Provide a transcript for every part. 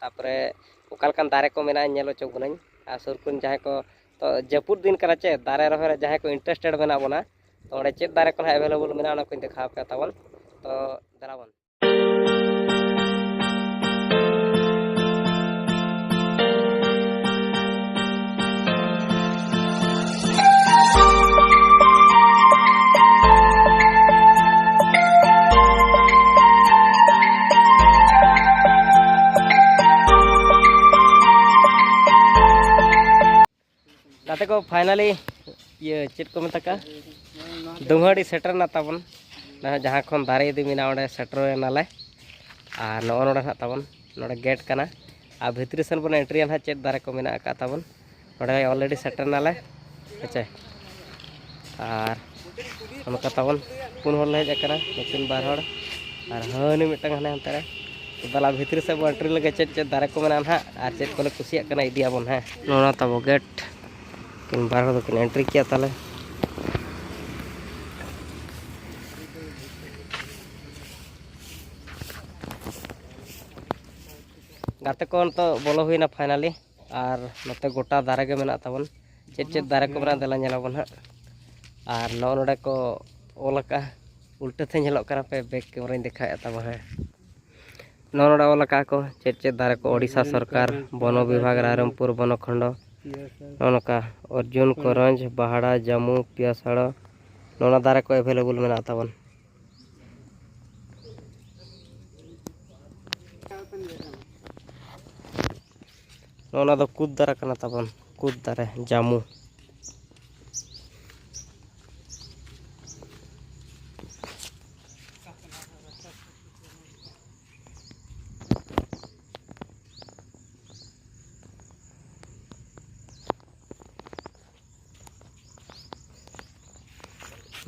ᱛᱟᱯᱚᱨᱮ ᱚᱠᱟ ᱞᱮᱠᱟᱱ ᱫᱟᱨᱮ ᱠᱚ ᱢᱮᱱᱟᱜᱼᱟ ᱧᱮᱞ ᱦᱚᱪᱚ ᱵᱚᱱᱟᱹᱧ ᱟᱨ ᱥᱩᱨ ᱠᱚᱨᱮᱱ ᱡᱟᱦᱟᱸᱭ ᱠᱚ ᱛᱚ ᱡᱟᱹᱯᱩᱫ ᱫᱤᱱ ᱠᱟᱱᱟ ᱪᱮ ᱫᱟᱨᱮ ᱨᱚᱦᱚᱭ ᱨᱮ ᱡᱟᱦᱟᱸᱭ ᱠᱚ ᱤᱱᱴᱟᱨᱮᱥᱴᱮᱰ ᱢᱮᱱᱟᱜ ᱵᱚᱱᱟ ᱛᱚ ᱚᱸᱰᱮ ᱪᱮᱫ ᱫᱟᱨᱮ ᱠᱚ ᱱᱟᱦᱟᱜ ᱮᱵᱮᱞᱮᱵᱮᱞ ᱢᱮᱱᱟᱜᱼᱟ ᱚᱱᱟ ᱠᱚᱧ ᱫᱮᱠᱷᱟᱣ ᱯᱮᱭᱟ ᱛᱟᱵᱚᱱ ᱛᱚ ᱫᱮᱞᱟ ᱵᱚᱱ ᱜᱟᱛᱮ ᱠᱚ ᱯᱷᱟᱭᱱᱟᱞᱤ ᱤᱭᱟᱹ ᱪᱮᱫ ᱠᱚ ᱢᱮᱛᱟᱜᱼᱟ ᱫᱩᱝᱦᱟᱹᱲᱤ ᱥᱮᱴᱮᱨᱱᱟ ᱛᱟᱵᱚᱱ ᱡᱟᱦᱟᱸ ᱠᱷᱚᱱ ᱫᱟᱨᱮ ᱤᱫᱤ ᱢᱮᱱᱟᱜᱼᱟ ᱚᱸᱰᱮ ᱥᱮᱴᱮᱨᱮᱱᱟᱞᱮ ᱟᱨ ᱱᱚᱜᱼᱚ ᱱᱚᱰᱮ ᱱᱟᱦᱟᱜ ᱛᱟᱵᱚᱱ ᱱᱚᱰᱮ ᱜᱮᱴ ᱠᱟᱱᱟ ᱟᱨ ᱵᱷᱤᱛᱨᱤ ᱥᱮᱱ ᱵᱚᱱ ᱮᱱᱴᱨᱤᱭᱟ ᱱᱟᱦᱟᱜ ᱪᱮᱫ ᱫᱟᱨᱮ ᱠᱚ ᱢᱮᱱᱟᱜ ᱟᱠᱟᱫ ᱛᱟᱵᱚᱱ ᱱᱚᱰᱮ ᱚᱞᱨᱮᱰᱤ ᱥᱮᱴᱮᱨ ᱱᱟᱞᱮ ᱦᱮᱸᱪᱮ ᱟᱨ ᱚᱱᱠᱟ ᱛᱟᱵᱚᱱ ᱯᱩᱱ ᱦᱚᱲ ᱞᱮ ᱦᱮᱡ ᱟᱠᱟᱱᱟ ᱱᱩᱠᱤᱱ ᱵᱟᱨ ᱦᱚᱲ ᱟᱨ ᱦᱟᱹᱱᱤ ᱢᱤᱫᱴᱟᱝ ᱦᱟᱱᱮ ᱦᱟᱱᱛᱮ ᱨᱮ ᱫᱟᱞᱟ ᱵᱷᱤᱛᱨᱤ ᱥᱮᱫ ᱵᱚᱱ ᱮᱱᱴᱨᱤ ᱞᱮᱜᱮ ᱪᱮᱫ ᱪᱮᱫ ᱫᱟᱨᱮ ᱠᱚ ᱢᱮᱱᱟᱜᱼᱟ ᱱᱟᱦᱟᱜ ᱟᱨ ᱪᱮᱫ ᱠᱚᱞᱮ ᱠᱩᱥᱤᱭᱟᱜ ᱠᱟᱱᱟ ᱤᱫᱤᱭᱟᱵᱚᱱ ᱦᱮᱸ ᱱᱚᱣᱟ ᱛᱟᱵᱚ ᱜᱮᱴ ᱠᱤᱱ ᱵᱟᱨ ᱦᱚᱲ ᱫᱚᱠᱤᱱ ᱮᱱᱴᱨᱤ ᱠᱮᱜᱼᱟ ᱛᱟᱦᱞᱮ ᱜᱟᱛᱮ ᱠᱚ ᱱᱤᱛᱚᱜ ᱵᱚᱞᱚ ᱦᱩᱭᱱᱟ ᱯᱷᱟᱭᱱᱟᱞᱤ ᱟᱨ ᱱᱚᱛᱮ ᱜᱚᱴᱟ ᱫᱟᱨᱮ ᱜᱮ ᱢᱮᱱᱟᱜ ᱛᱟᱵᱚᱱ ᱪᱮᱫ ᱪᱮᱫ ᱫᱟᱨᱮ ᱠᱚ ᱢᱮᱱᱟᱜᱼᱟ ᱫᱮᱞᱟ ᱧᱮᱞ ᱟᱵᱚᱱ ᱦᱟᱸᱜ ᱟᱨ ᱱᱚᱜᱼᱚ ᱱᱚᱰᱮ ᱠᱚ ᱚᱞ ᱟᱠᱟᱜᱼᱟ ᱩᱞᱴᱟᱹ ᱛᱮ ᱧᱮᱞᱚᱜ ᱠᱟᱱᱟ ᱯᱮ ᱵᱮᱠ ᱠᱮᱢᱮᱨᱟᱧ ᱫᱮᱠᱷᱟᱣᱮᱫ ᱛᱟᱵᱚᱱ ᱦᱮᱸ ᱱᱚᱜᱼᱚ ᱱᱚᱰᱮ ᱚᱞ ᱟᱠᱟᱜᱼᱟ ᱠᱚ ᱪᱮᱫ ᱪᱮᱫ ᱫᱟᱨᱮ ᱠᱚ ᱳᱰᱤᱥᱟ ᱥᱚᱨᱠᱟᱨ ᱵᱚᱱᱚ ᱵᱤᱵᱷᱟᱜᱽ ᱨᱟᱭᱨᱚᱝᱯᱩᱨ ᱵᱚᱱᱚ ᱠᱷᱚᱸᱰᱚ ᱱᱚᱜᱼᱚ ᱱᱚᱝᱠᱟ ᱚᱨᱡᱩᱱ ᱠᱚᱨᱚᱧᱡᱽ ᱵᱟᱦᱟᱲᱟ ᱡᱟᱹᱢᱩ ᱯᱤᱭᱟᱥᱟᱲᱚ ᱱᱚᱣᱟ ᱫᱟᱨᱮ ᱠᱚ ᱮᱵᱷᱮᱞᱮᱵᱚᱞ ᱢᱮᱱᱟᱜ ᱛᱟᱵᱚᱱ ᱚᱱᱟ ᱫᱚ ᱠᱩᱫ ᱫᱟᱨᱮ ᱠᱟᱱᱟ ᱛᱟᱵᱚᱱ ᱠᱩᱫ ᱫᱟᱨᱮ ᱡᱟᱹᱢᱩ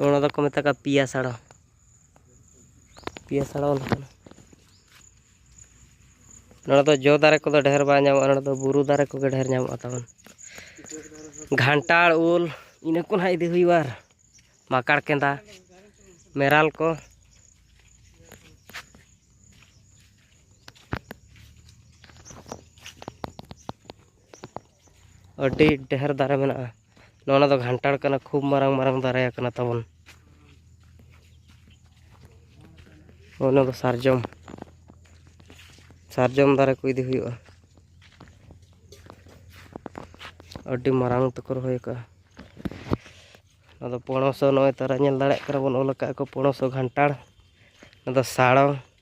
ᱚᱱᱟ ᱫᱚᱠᱚ ᱢᱮᱛᱟ ᱠᱚᱣᱟ ᱯᱤᱭᱟ ᱥᱟᱲᱚ ᱯᱤᱭᱟ ᱥᱟᱲᱚ ᱞᱮᱠᱟᱱᱟ ᱱᱚᱰᱮ ᱫᱚ ᱡᱚ ᱫᱟᱨᱮ ᱠᱚᱫᱚ ᱰᱷᱮᱨ ᱵᱟᱝ ᱧᱟᱢᱚᱜᱼᱟ ᱱᱚᱰᱮ ᱫᱚ ᱵᱩᱨᱩ ᱫᱟᱨᱮ ᱠᱚᱜᱮ ᱰᱷᱮᱨ ᱧᱟᱢᱚᱜᱼᱟ ᱛᱟᱵᱚᱱ ᱜᱷᱟᱱᱴᱟᱲ ᱩᱞ ᱤᱱᱟᱹ ᱠᱚ ᱱᱟᱦᱟᱜ ᱤᱫᱤ ᱦᱩᱭᱩᱜᱼᱟ ᱟᱨ ᱢᱟᱠᱟᱲ ᱠᱮᱸᱫᱟ ᱢᱮᱨᱟᱞ ᱠᱚ ᱟᱹᱰᱤ ᱰᱷᱮᱨ ᱫᱟᱨᱮ ᱢᱮᱱᱟᱜᱼᱟ ᱱᱚᱜᱼᱚ ᱱᱚᱣᱟ ᱫᱚ ᱜᱷᱟᱱᱴᱟᱲ ᱠᱟᱱᱟ ᱠᱷᱩᱵ ᱢᱟᱨᱟᱝ ᱢᱟᱨᱟᱝ ᱫᱟᱨᱮ ᱠᱟᱱᱟ ᱛᱟᱵᱚᱱ ᱦᱚᱸᱜᱼᱚ ᱱᱚᱣᱟ ᱫᱚ ᱥᱟᱨᱡᱚᱢ ᱥᱟᱨᱡᱚᱢ ᱫᱟᱨᱮ ᱠᱚ ᱤᱫᱤ ᱦᱩᱭᱩᱜᱼᱟ ᱟᱹᱰᱤ ᱢᱟᱨᱟᱝ ᱛᱮᱠᱚ ᱨᱚᱦᱚᱭ ᱟᱠᱟᱜᱼᱟ ᱟᱫᱚ ᱯᱚᱬᱚᱥ ᱦᱚᱸ ᱱᱚᱜᱼᱚᱭ ᱛᱟᱨᱟ ᱧᱮᱞ ᱫᱟᱲᱮᱭᱟᱜ ᱠᱟᱱᱟ ᱵᱚᱱ ᱚᱞ ᱟᱠᱟᱜᱼᱟ ᱠᱚ ᱯᱚᱬᱚᱥ ᱦᱚᱸ ᱜᱷᱟᱱᱴᱟᱲ ᱟᱫᱚ ᱥᱟᱲᱚ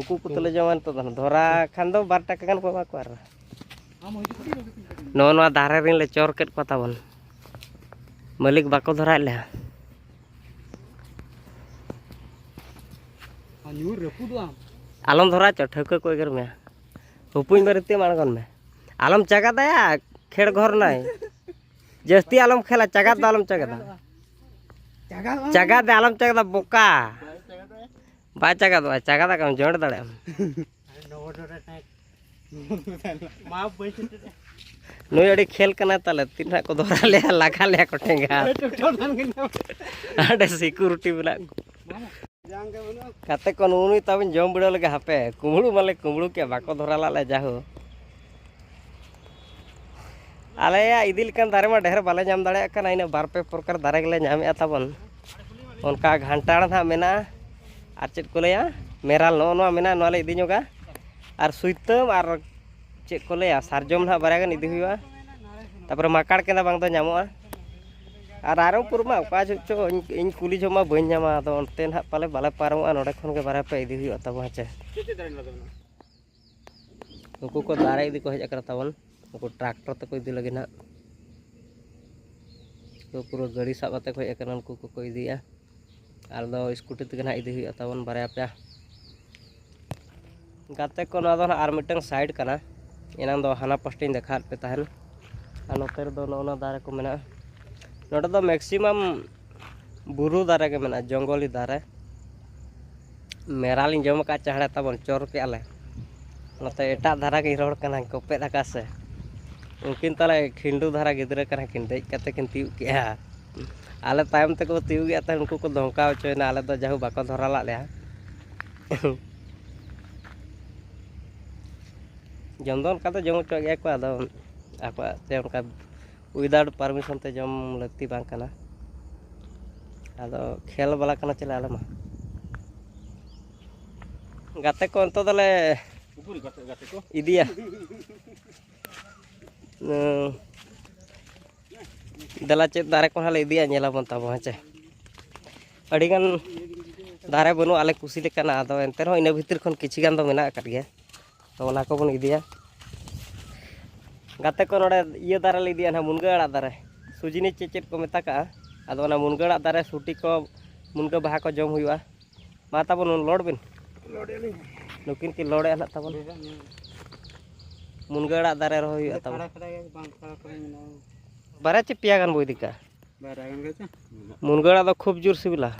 ᱩᱠᱩ ᱩᱠᱩ ᱛᱮᱞᱮ ᱡᱚᱢᱟ ᱱᱤᱛᱚᱜ ᱫᱚ ᱫᱷᱚᱨᱟ ᱠᱷᱟᱱ ᱫᱚ ᱵᱟᱨ ᱴᱟᱠᱟ ᱜᱟᱱ ᱠᱚ ᱮᱢᱟ ᱠᱚᱣᱟ ᱟᱨ ᱱᱚᱜᱼᱚ ᱱᱚᱣᱟ ᱫᱟᱨᱮ ᱨᱮᱱ ᱞᱮ ᱪᱚᱨ ᱠᱮᱫ ᱠᱚᱣᱟ ᱛᱟᱵᱚᱱ ᱢᱟᱹᱞᱤᱠ ᱵᱟᱠᱚ ᱫᱷᱚᱨᱟᱭᱮᱫ ᱞᱮᱭᱟ ᱟᱞᱚᱢ ᱫᱷᱚᱨᱟ ᱪᱚ ᱴᱷᱟᱹᱣᱠᱟᱹ ᱠᱚ ᱮᱜᱮᱨ ᱢᱮᱭᱟ ᱩᱯᱩᱧ ᱵᱟᱨᱮᱛᱮᱢ ᱟᱬᱜᱚᱱ ᱢᱮ ᱟᱞᱚᱢ ᱪᱟᱜᱟᱫᱟᱭᱟ ᱠᱷᱮᱲ ᱜᱷᱚᱨ ᱱᱟᱭ ᱡᱟᱹᱥᱛᱤ ᱟᱞᱚᱢ ᱠᱷᱮᱞᱟ ᱪᱟᱜᱟᱫ ᱫᱚ ᱟᱞᱚᱢ ᱪᱟᱜᱟᱫᱟ ᱪᱟᱜᱟᱫ ᱫᱚ ᱟᱞᱚᱢ ᱪᱟᱜᱟᱫᱟ ᱵᱚᱠᱟ ᱵᱟᱭ ᱪᱟᱜᱟᱫᱚᱜᱼᱟ ᱪᱟᱜᱟᱫ ᱟᱠᱟᱢ ᱡᱚᱸᱰ ᱫᱟᱲᱮᱭᱟᱜᱼᱟᱢ ᱱᱩᱭ ᱟᱹᱰᱤ ᱠᱷᱮᱞ ᱠᱟᱱᱟ ᱛᱟᱞᱮ ᱛᱤᱱ ᱦᱟᱸᱜ ᱠᱚ ᱫᱚᱦᱨᱟ ᱞᱮᱭᱟ ᱞᱟᱜᱟ ᱞᱮᱭᱟ ᱠᱚ ᱴᱷᱮᱸᱜᱟ ᱟᱹᱰᱤ ᱥᱤᱠᱩᱨᱤᱴᱤ ᱢᱮᱱᱟᱜ ᱠᱚ ᱠᱟᱛᱮ ᱠᱚ ᱱᱩᱜ ᱱᱩᱭ ᱛᱟᱵᱤᱱ ᱡᱚᱢ ᱵᱤᱲᱟᱹᱣ ᱞᱮᱜᱮ ᱦᱟᱯᱮ ᱠᱩᱢᱵᱽᱲᱩ ᱢᱟᱞᱮ ᱠᱩᱢᱵᱽᱲᱩ ᱠᱮᱫ ᱵᱟᱠᱚ ᱫᱷᱚᱨᱟ ᱞᱟᱜ ᱞᱮ ᱡᱟᱦᱳ ᱟᱞᱮᱭᱟᱜ ᱤᱫᱤ ᱞᱮᱠᱟᱱ ᱫᱟᱨᱮ ᱢᱟ ᱰᱷᱮᱨ ᱵᱟᱞᱮ ᱧᱟᱢ ᱫᱟᱲᱮᱭᱟᱜ ᱠᱟᱱᱟ ᱤᱱᱟᱹ ᱵᱟᱨ ᱯᱮ ᱯᱨᱚᱠᱟᱨ ᱫᱟᱨᱮ ᱜᱮᱞᱮ ᱧᱟᱢᱮᱜᱼᱟ ᱛᱟᱵᱚᱱ ᱚᱱᱠᱟ ᱜᱷᱟᱱᱴᱟᱲ ᱦᱟᱸᱜ ᱢᱮᱱᱟᱜᱼᱟ ᱟᱨ ᱪᱮᱫ ᱠᱚ ᱞᱟᱹᱭᱟ ᱢᱮᱨᱟᱞ ᱱᱚᱜᱼᱚ ᱱᱚᱣᱟ ᱢᱮᱱᱟᱜᱼᱟ ᱱᱚᱣᱟ ᱞᱮ ᱤᱫᱤ ᱧᱚᱜᱟ ᱟᱨ ᱥᱩᱭᱛᱟᱹᱢ ᱟᱨ ᱪᱮᱫ ᱠᱚ ᱞᱟᱹᱭᱟ ᱥᱟᱨᱡᱚᱢ ᱦᱟᱸᱜ ᱵᱟᱨᱭᱟ ᱜᱟᱱ ᱤᱫᱤ ᱦᱩᱭᱩᱜᱼᱟ ᱛᱟᱨᱯᱚᱨᱮ ᱢᱟᱠᱟᱲ ᱠᱮᱸᱫᱟ ᱵᱟᱝ ᱫᱚ ᱧᱟᱢᱚᱜᱼᱟ ᱟᱨ ᱨᱟᱭᱨᱚᱝᱯᱩᱨ ᱢᱟ ᱚᱠᱟ ᱡᱚᱦᱚᱜ ᱪᱚ ᱤᱧ ᱠᱩᱞᱤ ᱡᱚᱦᱚᱜ ᱢᱟ ᱵᱟᱹᱧ ᱧᱟᱢᱟ ᱟᱫᱚ ᱚᱱᱛᱮ ᱦᱟᱸᱜ ᱯᱟᱞᱮ ᱵᱟᱞᱮ ᱯᱟᱨᱚᱢᱚᱜᱼᱟ ᱱᱚᱰᱮ ᱠᱷᱚᱱ ᱜᱮ ᱵᱟᱨᱭᱟ ᱯᱮᱭᱟ ᱤᱫᱤ ᱦᱩᱭᱩᱜᱼᱟ ᱛᱟᱵᱚᱱ ᱦᱮᱸ ᱪᱮ ᱱᱩᱠᱩ ᱠᱚ ᱫᱟᱨᱮ ᱤᱫᱤ ᱠᱚ ᱦᱮᱡ ᱟᱠᱟᱱᱟ ᱛᱟᱵᱚᱱ ᱱᱩᱠᱩ ᱴᱨᱟᱠᱴᱚᱨ ᱛᱮᱠᱚ ᱤᱫᱤ ᱞᱟᱹᱜᱤᱫ ᱱᱟᱜ ᱛᱚ ᱯᱩᱨᱟᱹ ᱜᱟᱹᱰᱤ ᱥᱟᱵ ᱠᱟᱛᱮ ᱠᱚ ᱦᱮᱡ ᱟᱠᱟᱱᱟ ᱱᱩᱠᱩ ᱠᱚᱠᱚ ᱤᱫᱤᱭᱟ ᱟᱨ ᱫᱚ ᱥᱠᱩᱴᱤ ᱛᱮᱜᱮ ᱱᱟᱜ ᱤᱫᱤ ᱦᱩᱭᱩᱜᱼᱟ ᱛᱟᱵᱚᱱ ᱵᱟᱨᱭᱟ ᱯᱮᱭᱟ ᱜᱟᱛᱮ ᱠᱚ ᱱᱚᱣᱟ ᱫᱚ ᱱᱟᱜ ᱟᱨ ᱢᱤᱫᱴᱟᱝ ᱥᱟᱭᱤᱰ ᱠᱟᱱᱟ ᱮᱱᱟᱝ ᱫᱚ ᱦᱟᱱᱟ ᱯᱟᱥᱴᱟᱧ ᱫᱮᱠᱷᱟᱣᱟᱫ ᱯᱮ ᱛᱟᱦᱮᱱ ᱟᱨ ᱱᱚᱛᱮ ᱨᱮᱫᱚ ᱱᱚᱜᱼᱚ ᱱᱟ ᱫᱟᱨᱮ ᱠᱚ ᱢᱮᱱᱟᱜᱼᱟ ᱱᱚᱰᱮ ᱫᱚ ᱢᱮᱠᱥᱤᱢᱟᱢ ᱵᱩᱨᱩ ᱫᱟᱨᱮ ᱜᱮ ᱢᱮᱱᱟᱜᱼᱟ ᱡᱚᱝᱜᱚᱞᱤ ᱫᱟᱨᱮ ᱢᱮᱨᱟᱞᱤᱧ ᱡᱚᱢ ᱟᱠᱟᱫ ᱪᱟᱦᱲᱮ ᱛᱟᱵᱚᱱ ᱪᱚᱨ ᱠᱮᱫ ᱟᱞᱮ ᱱᱚᱛᱮ ᱮᱴᱟᱜ ᱫᱷᱟᱨᱟ ᱜᱤᱧ ᱨᱚᱲ ᱠᱟᱱᱟ ᱠᱚᱯᱮᱫ ᱟᱠᱟᱫ ᱥᱮ ᱩᱱᱠᱤᱱ ᱛᱟᱞᱮ ᱠᱷᱤᱱᱰᱩ ᱫᱷᱟᱨᱟ ᱜᱤᱫᱽᱨᱟᱹ ᱠᱟᱱᱟ ᱠᱤᱱ ᱫᱮᱡ ᱠᱟᱛᱮ ᱠᱤᱱ ᱛᱤᱭᱳᱜ ᱠᱮᱜᱼᱟ ᱟᱞᱮ ᱛᱟᱭᱚᱢ ᱛᱮᱠᱚ ᱛᱤᱭᱳᱜ ᱮᱫ ᱛᱟᱦᱮᱸᱫ ᱩᱱᱠᱩ ᱠᱚ ᱫᱷᱚᱢᱠᱟᱣ ᱦᱚᱪᱚᱭᱮᱱᱟ ᱟᱞᱮ ᱫᱚ ᱡᱟᱦᱳ ᱵᱟᱠᱚ ᱫᱷᱚᱨᱟ ᱞᱟᱜ ᱞᱮᱭᱟ ᱡᱚᱢ ᱫᱚ ᱚᱱᱠᱟ ᱫᱚ ᱡᱚᱢ ᱦᱚᱪᱚᱣᱟᱜ ᱜᱮᱭᱟ ᱠᱚ ᱟᱫᱚ ᱟᱠᱚᱣᱟᱜ ᱛᱮ ᱚᱱᱠᱟ ᱩᱭᱫᱟᱣᱩᱴ ᱯᱟᱨᱢᱤᱥᱚᱱ ᱛᱮ ᱡᱚᱢ ᱞᱟᱹᱠᱛᱤ ᱵᱟᱝ ᱠᱟᱱᱟ ᱟᱫᱚ ᱠᱷᱮᱞ ᱵᱟᱞᱟ ᱠᱟᱱᱟ ᱪᱮᱞᱮ ᱟᱞᱮ ᱢᱟ ᱜᱟᱛᱮ ᱠᱚ ᱱᱤᱛᱚᱜ ᱫᱚᱞᱮ ᱤᱫᱤᱭᱟ ᱫᱮᱞᱟ ᱪᱮᱫ ᱫᱟᱨᱮ ᱠᱚ ᱦᱟᱸᱜ ᱞᱮ ᱤᱫᱤᱭᱟ ᱧᱮᱞᱟᱵᱚᱱ ᱛᱟᱵᱚ ᱦᱮᱸ ᱪᱮ ᱟᱹᱰᱤᱜᱟᱱ ᱫᱟᱨᱮ ᱵᱟᱹᱱᱩᱜᱼᱟ ᱟᱞᱮ ᱠᱩᱥᱤ ᱞᱮᱠᱟᱱᱟᱜ ᱟᱫᱚ ᱮᱱᱛᱮ ᱨᱮᱦᱚᱸ ᱤᱱᱟᱹ ᱵᱷᱤᱛᱤᱨ ᱠᱷᱚᱱ ᱠᱤᱪᱷᱩ ᱜᱟᱱ ᱫᱚ ᱢᱮᱱᱟᱜ ᱟᱠᱟᱫ ᱜᱮᱭᱟ ᱛᱚ ᱚᱱᱟ ᱠᱚᱵᱚᱱ ᱤᱫᱤᱭᱟ ᱜᱟᱛᱮ ᱠᱚ ᱱᱚᱰᱮ ᱤᱭᱟᱹ ᱫᱟᱨᱮ ᱞᱮ ᱤᱫᱤᱭᱟ ᱱᱟᱦᱟᱜ ᱢᱩᱱᱜᱟᱹ ᱟᱲᱟᱜ ᱫᱟᱨᱮ ᱥᱩᱡᱤᱱᱤ ᱪᱮᱫ ᱪᱮᱫ ᱠᱚ ᱢᱮᱛᱟ ᱠᱟᱜᱼᱟ ᱟᱫᱚ ᱚᱱᱟ ᱢᱩᱱᱜᱟᱹ ᱟᱲᱟᱜ ᱫᱟᱨᱮ ᱥᱩᱴᱤ ᱠᱚ ᱢᱩᱱᱜᱟᱹ ᱵᱟᱦᱟ ᱠᱚ ᱡᱚᱢ ᱦᱩᱭᱩᱜᱼᱟ ᱢᱟ ᱛᱟᱵᱚᱱ ᱞᱚᱰ ᱵᱤᱱ ᱱᱩᱠᱤᱱ ᱠᱤᱱ ᱞᱚᱰᱮᱜᱼᱟ ᱱᱟᱦᱟᱜ ᱛᱟᱵᱚᱱ ᱢᱩᱱᱜᱟᱹ ᱟᱲᱟᱜ ᱫᱟᱨᱮ ᱨᱚᱦᱚᱭ ᱦᱩᱭᱩᱜᱼᱟ ᱛᱟᱵᱚᱱ ᱵᱟᱨᱭᱟ ᱪᱮ ᱯᱮᱭᱟ ᱜᱟᱱ ᱵᱚᱱ ᱤᱫᱤ ᱠᱟᱜᱼᱟ ᱢᱩᱱᱜᱟᱹ ᱟᱲᱟᱜ ᱫᱚ ᱠᱷᱩᱵᱽ ᱡᱳᱨ ᱥᱤᱵᱤᱞᱟ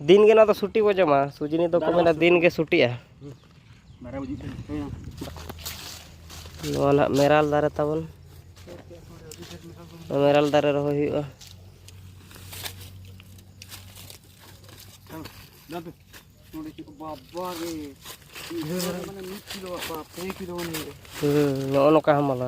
ᱫᱤᱱ ᱜᱮ ᱱᱚᱣᱟ ᱫᱚ ᱥᱩᱴᱤ ᱵᱚ ᱡᱚᱢᱟ ᱥᱩᱡᱤᱱᱤ ᱫᱚ ᱠᱚ ᱢᱮᱱᱟ ᱫᱤᱱ ᱜᱮ ᱥᱩᱴᱤᱜᱼᱟ ᱱᱚᱣᱟ ᱱᱟᱦᱟᱜ ᱢᱮᱨᱟᱞ ᱫᱟᱨᱮ ᱛᱟᱵᱚᱱ ᱢᱮᱨᱟᱞ ᱫᱟᱨᱮ ᱨᱚᱦᱚᱭ ᱦᱩᱭᱩᱜᱼᱟ ᱱᱚᱜᱼᱚ ᱱᱚᱝᱠᱟ ᱦᱟᱢᱟᱞᱟ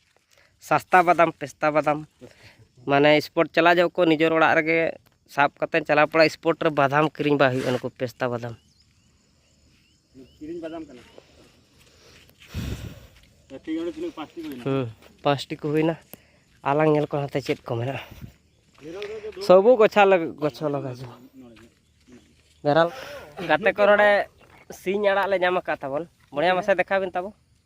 ᱥᱟᱥᱛᱟ ᱵᱟᱫᱟᱢ ᱯᱮᱥᱛᱟ ᱵᱟᱫᱟᱢ ᱢᱟᱱᱮ ᱥᱯᱳᱨᱴ ᱪᱟᱞᱟᱜ ᱡᱚᱠᱷᱚᱱ ᱠᱚ ᱱᱤᱡᱮᱨ ᱚᱲᱟᱜ ᱨᱮᱜᱮ ᱥᱟᱵ ᱠᱟᱛᱮ ᱪᱟᱞᱟᱣ ᱯᱟᱲᱟᱜ ᱥᱯᱳᱨᱴ ᱨᱮ ᱵᱟᱫᱟᱢ ᱠᱤᱨᱤᱧ ᱵᱟᱭ ᱦᱩᱭᱩᱜᱼᱟ ᱱᱩᱠᱩ ᱯᱮᱥᱛᱟ ᱵᱟᱫᱟᱢ ᱠᱤᱨᱤᱧ ᱵᱟᱫᱟᱢ ᱠᱟᱱᱟ ᱦᱩᱸ ᱯᱟᱸᱪᱴᱤ ᱠᱚ ᱦᱩᱭᱱᱟ ᱟᱞᱟᱝ ᱧᱮᱞ ᱠᱚ ᱦᱟᱱᱛᱮ ᱪᱮᱫ ᱠᱚ ᱢᱮᱱᱟᱜᱼᱟ ᱥᱚᱵᱩ ᱜᱚᱪᱷᱟ ᱜᱚᱪᱷᱟ ᱞᱟᱜᱟ ᱡᱚ ᱵᱮᱨᱟᱞ ᱜᱟᱛᱮ ᱠᱚ ᱱᱚᱰᱮ ᱥᱤᱧ ᱟᱲᱟᱜ ᱞᱮ ᱧᱟᱢ ᱟᱠᱟᱫ ᱛᱟᱵᱚᱱ ᱵᱚᱲᱮᱭᱟ ᱢᱟᱥᱮ ᱫᱮᱠᱷᱟᱣ ᱵᱤᱱ ᱛᱟᱵᱚ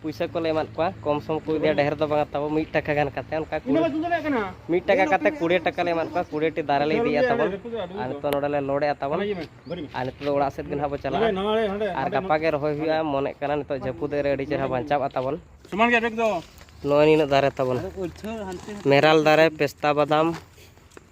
ᱯᱩᱭᱥᱟᱹ ᱠᱚᱞᱮ ᱮᱢᱟᱫ ᱠᱚᱣᱟ ᱠᱚᱢ ᱥᱚᱢ ᱠᱚ ᱤᱫᱤᱭᱟ ᱰᱷᱮᱨ ᱫᱚ ᱵᱟᱝᱟ ᱛᱟᱵᱚ ᱢᱤᱫ ᱴᱟᱠᱟ ᱜᱟᱱ ᱠᱟᱛᱮ ᱚᱱᱠᱟ ᱢᱤᱫ ᱴᱟᱠᱟ ᱠᱟᱛᱮ ᱠᱩᱲᱤ ᱴᱟᱠᱟ ᱞᱮ ᱮᱢᱟᱫ ᱠᱚᱣᱟ ᱠᱩᱲᱤ ᱴᱤ ᱫᱟᱨᱮ ᱞᱮ ᱤᱫᱤᱭᱟ ᱛᱟᱵᱚᱱ ᱟᱨ ᱱᱤᱛᱚᱜ ᱱᱚᱰᱮ ᱞᱮ ᱞᱳᱰᱮᱜᱼᱟ ᱛᱟᱵᱚᱱ ᱟᱨ ᱱᱤᱛᱚᱜ ᱫᱚ ᱚᱲᱟᱜ ᱥᱮᱫ ᱜᱮ ᱱᱟᱦᱟᱜ ᱵᱚ ᱪᱟᱞᱟᱜᱼᱟ ᱟᱨ ᱜᱟᱯᱟ ᱜᱮ ᱨᱚᱦᱚᱭ ᱦᱩᱭᱩᱜᱼᱟ ᱢᱚᱱᱮᱜ ᱠᱟᱱᱟ ᱱᱤᱛᱚᱜ ᱡᱟᱹᱯᱩᱫ ᱨᱮ ᱟᱹᱰᱤ ᱪᱮᱦᱨᱟ ᱵᱟᱧᱪᱟᱜᱼᱟ ᱛᱟᱵᱚᱱ ᱥᱚᱢᱟᱱ ᱜᱮ ᱵᱮᱜᱽ ᱫᱚ ᱱᱚᱜᱼᱚᱭ ᱱᱤᱱᱟᱹᱜ ᱫᱟᱨᱮ ᱛᱟᱵᱚᱱ ᱢᱮᱨᱟᱞ ᱫᱟᱨᱮ ᱯᱮᱥᱛᱟ ᱵᱟᱫᱟᱢ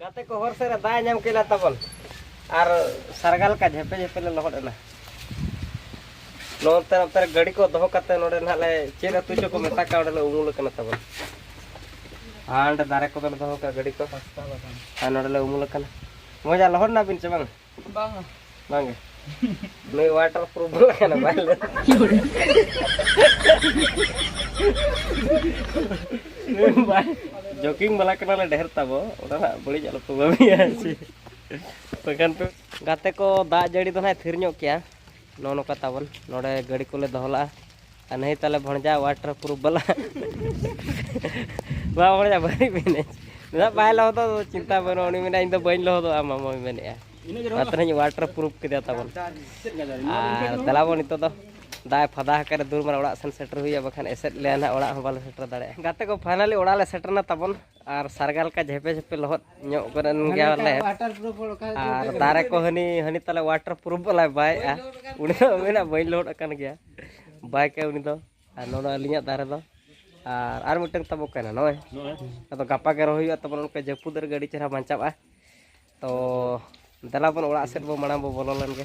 ᱜᱟᱛᱮ ᱠᱚ ᱦᱚᱨ ᱥᱮᱫ ᱨᱮ ᱫᱟᱜ ᱧᱟᱢ ᱠᱮᱫᱟ ᱛᱟᱵᱚᱱ ᱟᱨ ᱥᱟᱨᱜᱟ ᱞᱮᱠᱟ ᱡᱷᱮᱯᱮ ᱡᱷᱮᱯᱮ ᱞᱮ ᱞᱚᱦᱚᱫ ᱮᱱᱟ ᱱᱚᱛᱮ ᱱᱚᱛᱮ ᱨᱮ ᱜᱟᱹᱰᱤ ᱠᱚ ᱫᱚᱦᱚ ᱠᱟᱛᱮ ᱱᱚᱰᱮ ᱱᱟᱦᱟᱜ ᱞᱮ ᱪᱮᱫ ᱟᱹᱛᱩ ᱪᱚ ᱠᱚ ᱢᱮᱛᱟᱜ ᱠᱟᱱᱟ ᱚᱸᱰᱮ ᱞᱮ ᱩᱢᱩᱞ ᱟᱠᱟᱱᱟ ᱛᱟᱵᱚᱱ ᱟᱨ ᱚᱸᱰᱮ ᱫᱟᱨᱮ ᱠᱚ ᱫᱚᱞᱮ ᱫᱚᱦᱚ ᱠᱟᱜᱼᱟ ᱜᱟᱹᱰᱤ ᱠᱚ ᱟᱨ ᱱᱚᱰᱮ ᱞᱮ ᱩᱢᱩᱞ ᱟᱠᱟᱱᱟ ᱢᱚᱡᱟ ᱞᱚᱦᱚᱫ ᱮᱱᱟᱵᱤᱱ ᱥᱮ ᱵᱟᱝ ᱵᱟᱝᱟ ᱵᱟᱝᱟ ᱱᱩᱭ ᱣᱟᱴᱟᱨ ᱯᱨᱩᱯᱷ ᱵᱟᱞᱟ ᱠᱟᱱᱟ ᱵᱟᱭ ᱞᱟᱹᱭ ᱡᱚᱠᱤᱝ ᱵᱟᱞᱟ ᱠᱟᱱᱟᱞᱮ ᱰᱷᱮᱨ ᱛᱟᱵᱚ ᱚᱱᱟ ᱱᱟᱜ ᱵᱟᱹᱲᱤᱡ ᱟᱞᱚ ᱯᱮ ᱵᱷᱟᱹᱵᱤᱭᱟ ᱥᱮ ᱵᱟᱠᱷᱟᱱ ᱯᱮ ᱜᱟᱛᱮ ᱠᱚ ᱫᱟᱜ ᱡᱟᱹᱲᱤ ᱫᱚ ᱱᱟᱜ ᱛᱷᱤᱨ ᱧᱚᱜ ᱠᱮᱭᱟ ᱱᱚᱜᱼᱚ ᱱᱚᱝᱠᱟ ᱛᱟᱵᱚᱱ ᱱᱚᱰᱮ ᱜᱟᱹᱰᱤ ᱠᱚᱞᱮ ᱫᱚᱦᱚ ᱞᱟᱜᱼᱟ ᱟᱨ ᱱᱟᱹᱭ ᱛᱟᱞᱮ ᱵᱷᱚᱬᱡᱟ ᱣᱟᱴᱟᱨ ᱯᱨᱩᱯᱷ ᱵᱟᱞᱟ ᱵᱟᱝ ᱵᱷᱚᱬᱡᱟ ᱵᱟᱹᱧ ᱢᱮᱱᱮᱫ ᱢᱮᱱᱟᱜ ᱵᱟᱭ ᱞᱚᱦᱚᱫᱚᱜ ᱫᱚ ᱪᱤᱱᱛᱟ ᱵᱟᱹᱱᱩᱜᱼᱟ ᱩᱱᱤ ᱢᱮᱱᱟ ᱤᱧ ᱫᱚ ᱵᱟᱹᱧ ᱞᱚᱦᱚᱫᱚᱜᱼᱟ ᱢᱟᱢᱚᱭ ᱢᱮᱱᱮᱫᱼᱟ ᱟᱛᱨᱟᱧ ᱣᱟᱴᱟᱨ ᱯᱨᱩᱯᱷ ᱠᱮᱫᱟ ᱛᱟᱵᱚᱱ ᱟᱨ ᱫᱮᱞᱟ ᱵᱚᱱ ᱱᱤᱛᱚᱜ ᱫᱚ ᱫᱟᱜ ᱮ ᱯᱷᱟᱫᱟ ᱟᱠᱟᱫ ᱫᱩᱨ ᱢᱟᱨᱟᱝ ᱚᱲᱟᱜ ᱥᱮᱱ ᱥᱮᱴᱮᱨ ᱦᱩᱭᱩᱜᱼᱟ ᱵᱟᱠᱷᱟᱱ ᱮᱥᱮᱫ ᱞᱮᱭᱟ ᱱᱟᱦᱟᱜ ᱚᱲᱟᱜ ᱦᱚᱸ ᱵᱟᱞᱮ ᱥᱮᱴᱮᱨ ᱫᱟᱲᱮᱭᱟᱜᱼᱟ ᱜᱟᱛᱮ ᱠᱚ ᱯᱷᱟᱭᱱᱟᱞᱤ ᱚᱲᱟᱜ ᱞᱮ ᱥᱮᱴᱮᱨᱱᱟ ᱛᱟᱵᱚᱱ ᱟᱨ ᱥᱟᱨᱜᱟ ᱞᱮᱠᱟ ᱡᱷᱮᱯᱮ ᱡᱷᱮᱯᱮ ᱞᱚᱦᱚᱫ ᱧᱚᱜ ᱠᱚᱨᱮᱱ ᱜᱮᱭᱟᱞᱮ ᱟᱨ ᱫᱟᱨᱮ ᱠᱚ ᱦᱟᱹᱱᱤ ᱦᱟᱹᱱᱤ ᱛᱟᱞᱮ ᱣᱟᱴᱟᱨ ᱯᱨᱩᱯᱷ ᱵᱟᱞᱟᱭ ᱵᱟᱭᱮᱜᱼᱟ ᱩᱱᱤ ᱫᱚ ᱢᱮᱱᱟᱜ ᱵᱟᱹᱧ ᱞᱚᱦᱚᱫ ᱟᱠᱟᱱ ᱜᱮᱭᱟ ᱵᱟᱭ ᱠᱟᱭ ᱩᱱᱤ ᱫᱚ ᱟᱨ ᱱᱚᱰᱮ ᱟᱹᱞᱤᱧᱟᱜ ᱫᱟᱨᱮ ᱫᱚ ᱟᱨ ᱟᱨ ᱢᱤᱫᱴᱟᱝ ᱛᱟᱵᱚ ᱠᱟᱱᱟ ᱱᱚᱜᱼᱚᱭ ᱟᱫᱚ ᱜᱟᱯᱟ ᱜᱮ ᱨᱚᱦᱚᱭ ᱦᱩᱭᱩᱜᱼᱟ ᱛᱟᱵᱚᱱ ᱚᱱᱠᱟ ᱡᱟᱹᱯᱩᱫ ᱨᱮᱜᱮ ᱟᱹᱰᱤ ᱪᱮᱦᱨᱟ ᱵᱟᱧᱪᱟᱜᱼᱟ ᱛᱚ ᱫᱮᱞᱟ ᱵᱚᱱ ᱚᱲᱟᱜ ᱥᱮᱫ ᱵᱚ ᱢᱟᱲᱟᱝ ᱵᱚ ᱵᱚᱞᱚ ᱞᱮᱱ ᱜᱮ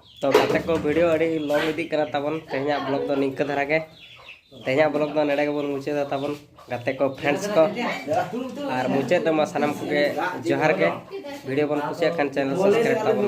ᱛᱚ ᱜᱟᱛᱮ ᱠᱚ ᱵᱷᱤᱰᱤᱭᱳ ᱟᱹᱰᱤ ᱞᱚᱝ ᱤᱫᱤᱜ ᱠᱟᱱᱟ ᱛᱟᱵᱚᱱ ᱛᱮᱦᱮᱧᱟᱜ ᱵᱞᱚᱜ ᱫᱚ ᱱᱤᱝᱠᱟᱹ ᱫᱷᱟᱨᱟ ᱜᱮ ᱛᱮᱦᱮᱧᱟᱜ ᱵᱞᱚᱜ ᱫᱚ ᱱᱚᱰᱮ ᱜᱮᱵᱚᱱ ᱢᱩᱪᱟᱹᱫᱟ ᱛᱟᱵᱚᱱ ᱜᱟᱛᱮ ᱠᱚ ᱯᱷᱨᱮᱱᱰᱥ ᱠᱚ ᱟᱨ ᱢᱩᱪᱟᱹᱫ ᱨᱮᱢᱟ ᱥᱟᱱᱟᱢ ᱠᱚᱜᱮ ᱡᱚᱦᱟᱨ ᱜᱮ ᱵᱷᱤᱰᱤᱭᱳ ᱵᱚᱱ ᱠᱩᱥᱤᱭᱟᱜ ᱠᱷᱟᱱ ᱪᱮᱱᱮᱞ ᱥᱟᱵᱥᱠᱨᱟᱭᱤᱵᱽ ᱛᱟᱵᱚᱱ